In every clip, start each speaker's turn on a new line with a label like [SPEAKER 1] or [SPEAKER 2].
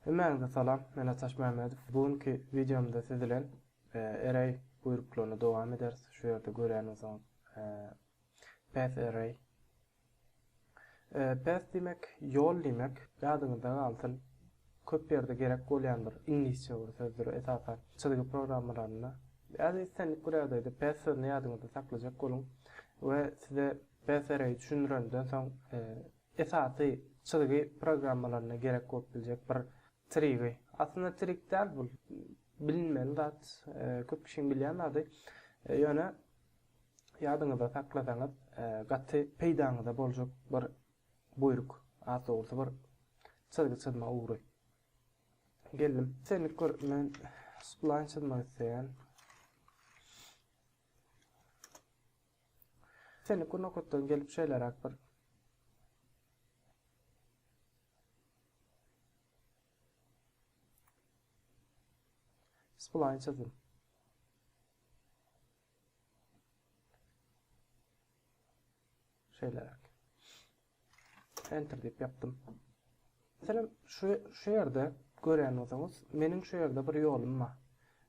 [SPEAKER 1] Hemmäňize salam, men Ataş Mämmedow. Bu günki wideomda siz bilen array buýruklaryny dowam ederis. Şu ýerde görýäniňiz path array. Path diýmek ýol diýmek. Ýadyňyzda galsyn, köp ýerde gerek bolýan bir iňlisçe bir sözdür, esasan çyzgy programmalarynda. Ýa-da islendik bir ýagdaýda path sözüni ýadyňyzda saklajak boluň we size Bfr-i düşündirenden soň, esasy çyzgy programmalaryna gerek bolup biljek bir trigi, aslynda trig däl bu, bilinmeli zat, köp kişiň bilýän zady, ýöne ýadyňyzda saklasaňyz, gaty peýdaňyza boljak bir buýruk, has dogrusy bir çyzgy çyzma ugry. Geldim. Senlik bir men splaýn çyzmak isleýän. Seniki nokatdan gelip şeýleräk bir. Spline çyzdym. Şeýleräk. Enter diýip ýapdym. Meselem, şu şu ýerde görýän bolsaňyz, meniň şu ýerde bir ýolum bar.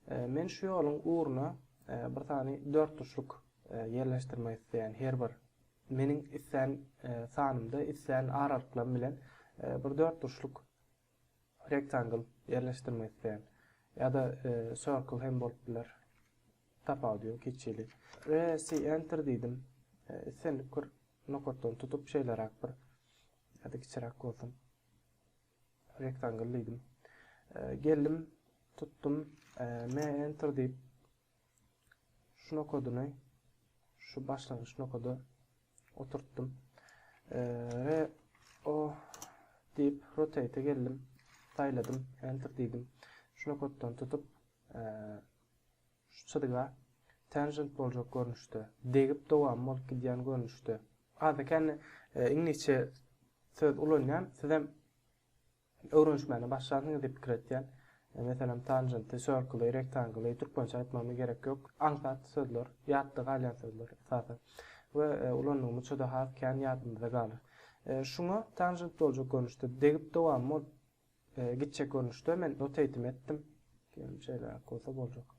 [SPEAKER 1] E, men şu ýoluň ugruna e, bir sany dört tuşluk e, ýerleşdirmek isleýän her bir meniň islän e, sanymda, islän aralyklarym bilen e, bir dört tuşluk Rectangle ýerleşdirmek isleýän. Ýa-da circle hem bolup biler. Tapawudy ýok hiç hili. RC enter diýdim. Islendik bir nokatdan tutup şeýleräk bir ýa-da kiçiräk bolsun. Rectangle diýdim. Geldim, tutdum. M enter diýip şu nokadyny şu başlangyç nokada oturtdym. Re o diýip rotate geldim. Saýladym, enter diýdim. Şu nokatdan tutup şu çyzyga tangent boljak görnüşde, degip dowam bolup gidýän görnüşde. Adekany e, iňlisçe söz ulanýan, siz hem Öwrenişmäne başlansyň diýip pikir etýän. Meselem, tanjenti, sörküli, rektangly, türkmençe aýtmagyma gerek ýok. Aňsat sözler, ýatda galýan sözler esasan. We ulandygymyz juda has kän ýadymyzda galar. Şuňa tanjent boljak görnüşde, degip dowam bolup gitjek görnüşde men notate'imi etdim. Diýelim, şeýleräk bolsa boljak.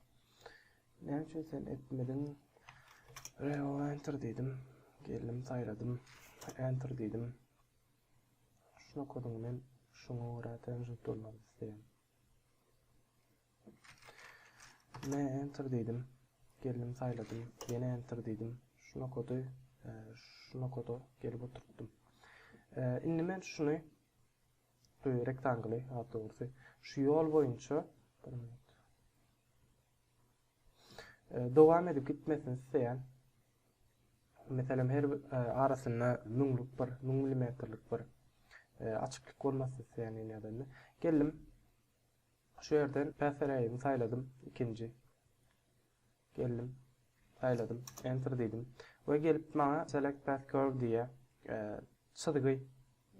[SPEAKER 1] Näme üçin sen etmediň? Reol enter diýdim. Geldim, saýladym. Enter diýdim. Şu nokada men şuňa görä tanjant dolmak isleýän. Men enter diýdim. Geldim saýladym. Ýene enter diýdim. Şu nokada e, şu nokada gelip oturtdym. E, indi men şuny e, rektangly, ha dogrusy, şu ýol boýunça bir minut. Dowam edip gitmesini isleýän. Meselem, her bir arasynda müňlük bir, müň milimetrlik bir açyklyk bolmasyn isleýän indi ýadanda. Geldim. Şu ýerden päsräýimi saýladym, ikinji. Geldim. Saýladym, enter diýdim. We gelip maňa select path curve diýýär. Çyzgy,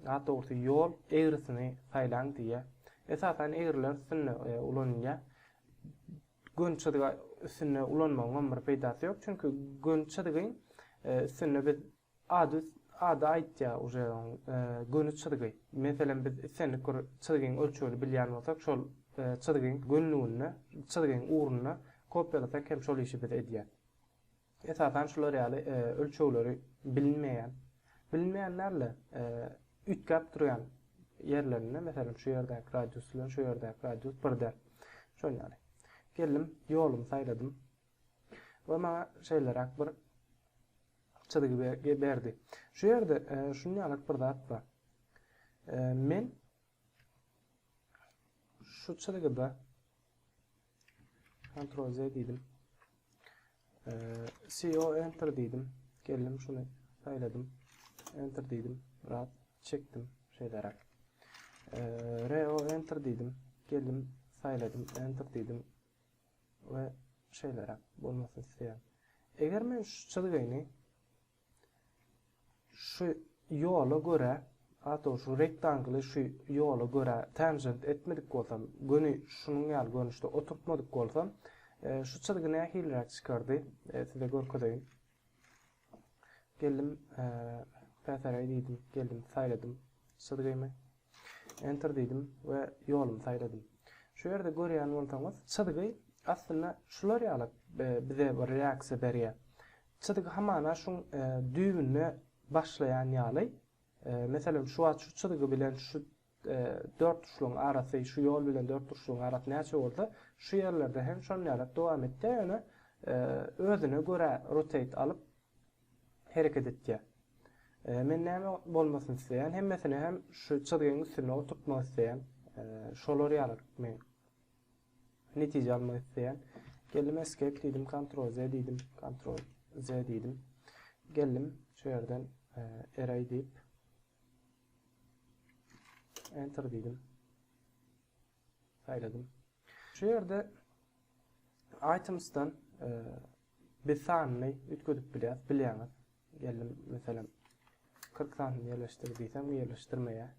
[SPEAKER 1] has dogrusy ýol, egrisini saýlaň diýýär. Esasan egriler üstünde ulanylýar. Gön çyzgy üstünde ulanmagyňam bir peýdasy ýok, çünki gön çyzgy üstünde biz ady ady aýtýar uje oň göni çyzgy. Meselem biz islendik bir çyzgyň ölçegini bilýän bolsak şol çyzgyň gönlüginde çyzgyň ugrunda kopiýalasak hem şol işi biz edýäs. Esasan şular ýaly ölçegleri bilinmeýän, bilinmeýän däl-de, üýtgäp durýan ýerlerinde, meselem, şu ýerdäki radius bilen şu ýerdäki radius bir däl. Şol ýaly. Geldim, ýolumy saýladym we maňa şeýleräk bir çyzgy berdi. Şu ýerde şunýalyk bir zat bar. Men Şu çyzgyda Ctrl Z diýdim. CO enter diýdim. Geldim şuny saýladym. Enter diýdim. Biraz çekdim şeýleräk. RO enter diýdim. Geldim saýladym. Enter diýdim. We şeýleräk bolmasyn isleýän. Eger men şu çyzgyny Şu ýola görä, has dogrusy rektangly şu ýola görä tanjent etmedik bolsam, göni şunuň ýaly görnüşde oturtmadyk bolsam, şu çyzgy nähiliräk çykardy, size görkezeýin. Geldim, päsäräý diýdim, geldim, saýladym çyzgymy. Enter diýdim we ýolumy saýladym. Şu ýerde görýän bolsaňyz, çyzgy aslynda şular ýaly bize bir reaksiýa berýär. Çyzgy hamana şuň düýbünde başlaýan ýaly. Meselem, şu wagt şu çyzgy bilen şu dörtburçlugyň arasy, şu ýol bilen dörtburçlugyň arasy näçe bolsa, şu ýerlerde hem şonýalak dowam etdi, ýöne özüne görä rotate alyp, hereket etýär. Men näme bolmasyny isleýän, hemmesini hem şu çyzgyň üstünde oturtmak isleýän. Şolar ýaly men netije almak isleýän. Geldim escape diýdim, Ctrl Z diýdim, Ctrl Z diýdim. Geldim şu ýerden array diýip enter diýdim. saýladym. Şu ýerde Items-dan biz sanyny üýtgedip bilýäris, bilýäňiz. Geldim, meselem, 40 santini ýerleşdir diýsem, ýerleşdirmeýär.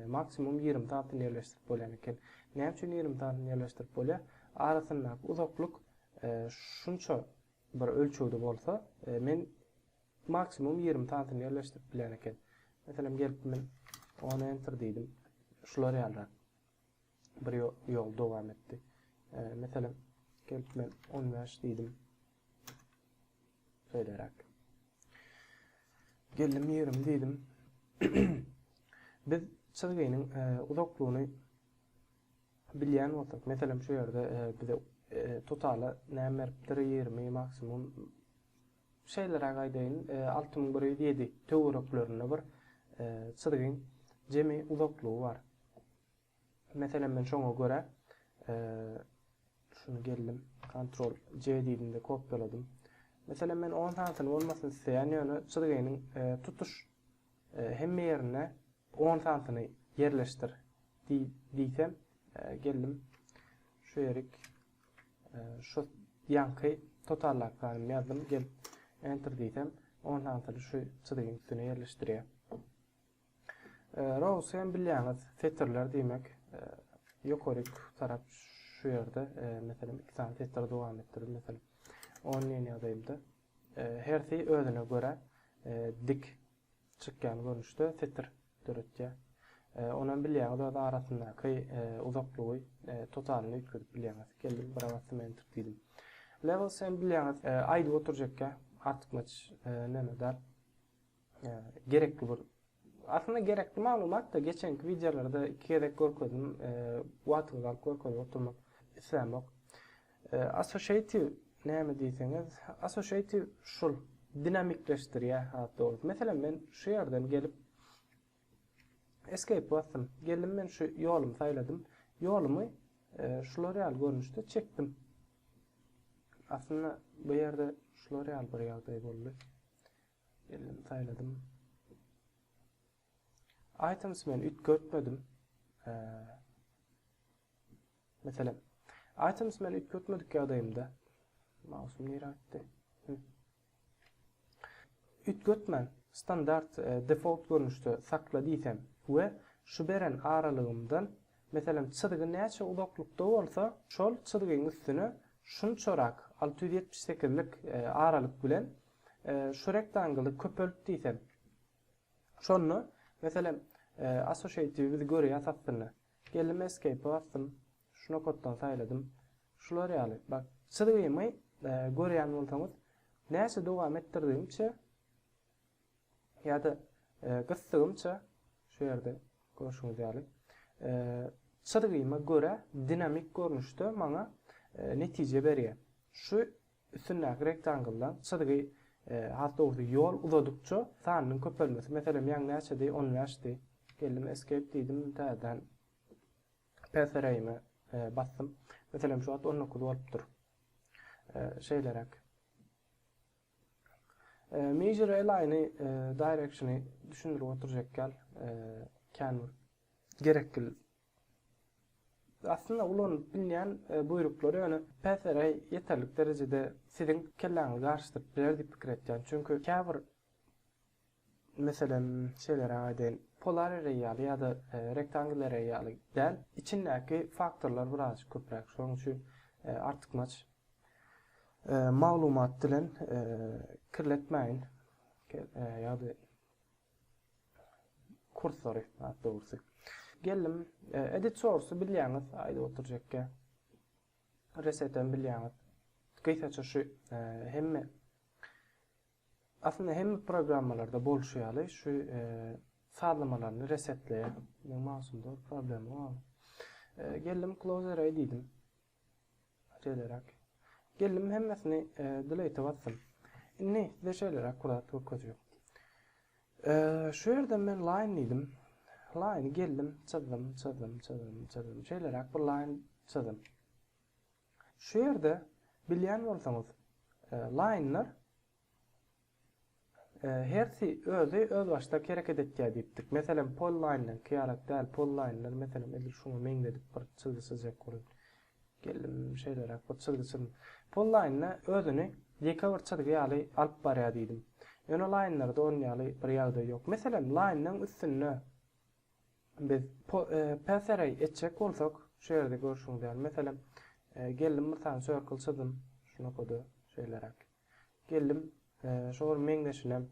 [SPEAKER 1] Maksimum 20 santini ýerleşdirip bolýan eken. Näme üçin 20 santini ýerleşdirip bolýar? Arasyndaky uzaklyk şunça bir ölçegde bolsa, men maksimum 20 santini ýerleşdirip bilýän eken. Meselem, gelip men ony enter diýdim. Şular ýalyrak. bir ýol dowam etdi. Meselem, gelip men 15 diýdim. Şeýleräk. Geldim 20 diýdim. Biz çyzgynyň e, uzaklygyny bilýän bolsak, meselem şu ýerde e, bize e, totala näme beripdir 20 maksimum Şeýleräk aýdaýyn, alty müň bir ýüz ýedi töwereklerinde bir çyzgyň jemi uzaklygy bar. Meselem, men şoňa görä, şuny geldim, kontrol C diýdim-de kopýaladym. Meselem, men on sanysyny bolmasyny isleýän, ýöne çyzgynyň tutuş hemme ýerine on sanysyny ýerleşdir diýsem, geldim, şu ýerik. Şu ýanky totarlap ganym ýazdym. Gelip enter diýsem, on santyny şu çyzygyň üstüne ýerleşdirýär. Rows hem bilýäňiz, setirler diýmek. Ýokaryk tarap şu ýerde, meselem, iki sany setiri dowam etdirip, meselem, on liniýa ýazaýyldy. Hersi özüne görä dik çykýan görnüşde setir döretýär. Onam bilýäňiz öz arasyndaky uzaklygy totalyny üýtgedip bilýäňiz. Geldim bir agyz sement tut diýdim. Level sen bilýäňiz aýdyp oturjakka artykmaç näme däl. Gerekli bir Aslynda gerekli maglumat da geçenki wideolarda iki gezek görkezdim. Wagtyňyzy alyp görkezip oturmak islämok. Associative näme diýseňiz, associative şul dinamikleşdirýä has dogry. Meselem men şu ýerden gelip escape basdym. Geldim men şu ýolumy saýladym. Ýolumy şular ýaly görnüşde çekdim. Aslynda bu ýerde şular ýaly bir ýagdaý boldy. Geldim saýladym. Items men üýtgetmedim. Meselem, items men üýtgetmedik ýagdaýymda mausum nirä gitdi? Üýtgetmän standart e, default görnüşde sakla diýsem we şu beren aralygymdan meselem çyzgy näçe uzaklykda bolsa, şol çyzgyň üstüne şunçarak 678 lik e, aralyk bilen e, şu rektangyly köpelt diýsem, Şonda, meselem, associative biz görýäs aslynda. Geldim escape basdym. Şu nokatdan saýladym. Şular ýaly. Bak, çyzgymy görýän bolsaňyz, näçe dowam etdirdigimçe ýa-da gysdygymça şu ýerde görşüňiz ýaly, çyzgyma görä dinamik görnüşde maňa netije berýär. Şu Üstündäki rektangldan çyzgy, has dogrusy ýol uzadykça sanynyň köpelmesi. Meselem, ýaň näçedi? On bäşdi. Geldim Escape diýdim, täzeden Patheraýymy basdym. Meselem, şu wagt on dokuz bolupdyr. Şeýleräk. Measure align-i, direction-i düşündirip oturjak ýaly, kän bir gerekli Aslynda ulanylyp bilýän buýruklar ýöne PSRA ýeterlik derejede siziň kelläňizi garyşdyryp biler diýip pikir etýän. Çünki käbir meselem şeýleräk aýdaýyn, polar array ýaly ýa-da rectangle array ýaly däl, içindäki faktorlar birazajyk köpräk. Şonuň üçin artykmaç maglumat bilen kirletmäýin ýa-da. Kursory, has dogrusy. Geldim, e, edit source bilýäňiz, aýdyp oturjakka. Resetem bilýäňiz. Gysaça şu e, hemme aslynda hemme programmalarda bolşy ýaly şu e, sazlamalaryny resetleýär. Meň mouseumda problem bar. E, geldim close array diýdim. Şeýleräk. Gelnim hemmesini delete'e basdym. Indi size şeýleräk kurat görkezýän. Şu ýerden men line diýdim. Line geldim, çyzdym, çyzdym, çyzdym, çyzdym. Şeýleräk bir line çyzdym. Şu ýerde bilýän bolsaňyz, line'lar Hersi özi özbaşdak hereket etýär diýipdik. Meselem, Pollaýndan keýarak däl, Pollaýndan, meselem, edil şuňa meňzedip bir çyzgy çyzjak bolun. Geldim, şeýleräk bir çyzgy çyzdym. Pollaýnda özüni ýeke bir çyzgy ýaly alyp barýar diýdim. Ýöne laýnlarda onuň ýaly bir ýagdaý ýok. Meselem, laýnyň üstünde biz Path-Array etjek bolsak, şu ýerde görşüňiz ýaly, meselem, geldim bir sany circle çyzdym, şunakada şeýleräk. Geldim. Şo gün meňzeşinem.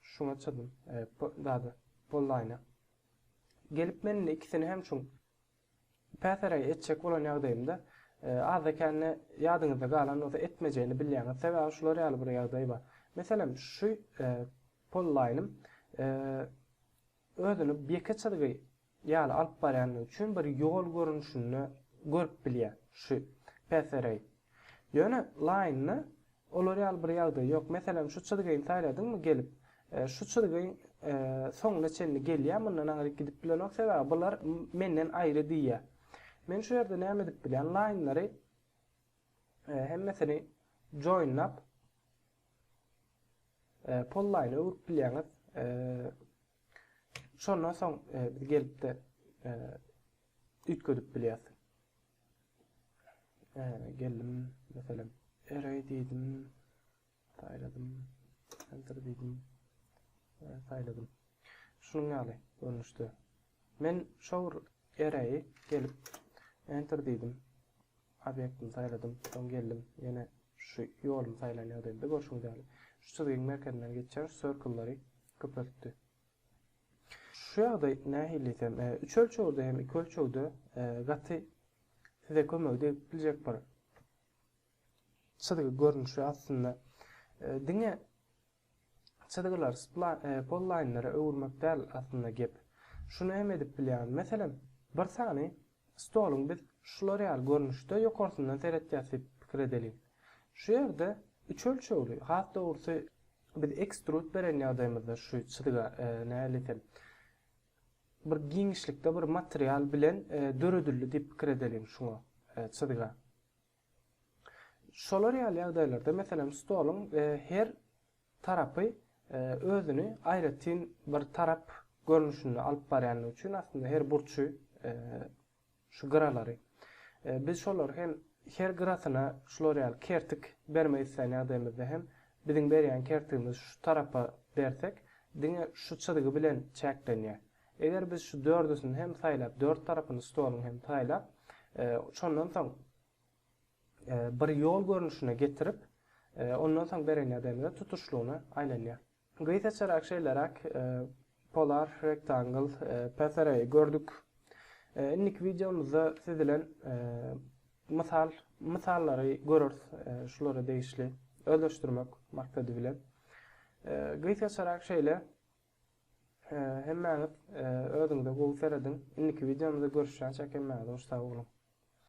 [SPEAKER 1] Şuňa çydym. Dady. Bollaýna. Gelip men indi ikisini hem şuň päsere etjek bolan ýagdaýymda azda-kände ýadyňyzda galan bolsa etmejegini bilýäňiz. Sebäbi şular ýaly bir ýagdaý bar. Meselem, şu pollaýnym özüni ýeke çyzgy ýaly alyp barýandygy üçin bir ýol görnüşinde görüp bilýär şu PSR-i. Ýöne Line-da olar ýaly bir ýagdaý ýok. Meselem, şu çyzgyny saýladyňmy gelip, şu çyzgy soňuna çenli gelýär, mundan aňryk gidip bilenok, sebäbi bular menden aýry diýýär. Men şu ýerde näme edip bilýän, Line-lary hemmesini join-lap, Polline öwrüp bilýäňiz. Şondan soň e, biz gelip-de e, üýtgedip bilýäs. E, geldim, meselem, array diýdim, saýladym, enter diýdim, saýladym. Şunuň ýaly görnüşde. Men şol array gelip enter diýdim. Obýektimi saýladym, soň geldim, ýene şu ýolumy saýlan ýagdaýymda görşüňiz ýaly, şu çyzgyň merkezinden geçýän şu sirklleri köpeltdi. Şu ýagdaý nähili diýsem, üç ölçegde hem iki ölçegde gaty size kömek edip biljek bir çyzgy görnüşi aslynda. Diňe Çyzgylar spla e, pollaýnlara öwürmek däl aslynda gep. Şuny hem edip bilýäňiz. Meselem, bir sany stoluň biz şular ýaly görnüşde ýokarsyndan seretýäs diýip pikir edeliň. Şu ýerde üç ölçegli, has dogrusy biz ekstrud beren ýagdaýymyzda şu çyzga e, nähili desem, bir giňişlikde bir material bilen e, döredildi diýip pikir edeliň şuňa e, çyzga. Şolar ýaly ýagdaýlarda, meselem, stoluň her tarapy özüni aýratyn bir tarap görnüşinde alyp barýandygy üçin, aslynda her burçy, şu gyralary, biz şolary hem her gyrasyna şular ýaly kertik bermek isleýän ýagdaýymyzda hem biziň berýän kertigimiz şu tarapa bersek, diňe şu çyzgy bilen çäklenýär. Eger biz şu dördüsini hem saýlap, dört tarapyny stoluň hem saýlap, şondan soň bir ýol görnüşine getirip, ondan soň beren ýagdaýymyzda tutuşlygyna aýlanýar. Gysaçarak şeýleräk polar rektangl PSR-i gördük. Indiki wideomyzda siz bilen mysal mysallary göreris şulara degişli özleşdirmek maksady bilen. Gysaçarak şeýle. Hemmäňiz özüňize gowy serediň. Indiki wideomyzda görüşýänçäk hemmäňize hoş sag boluň.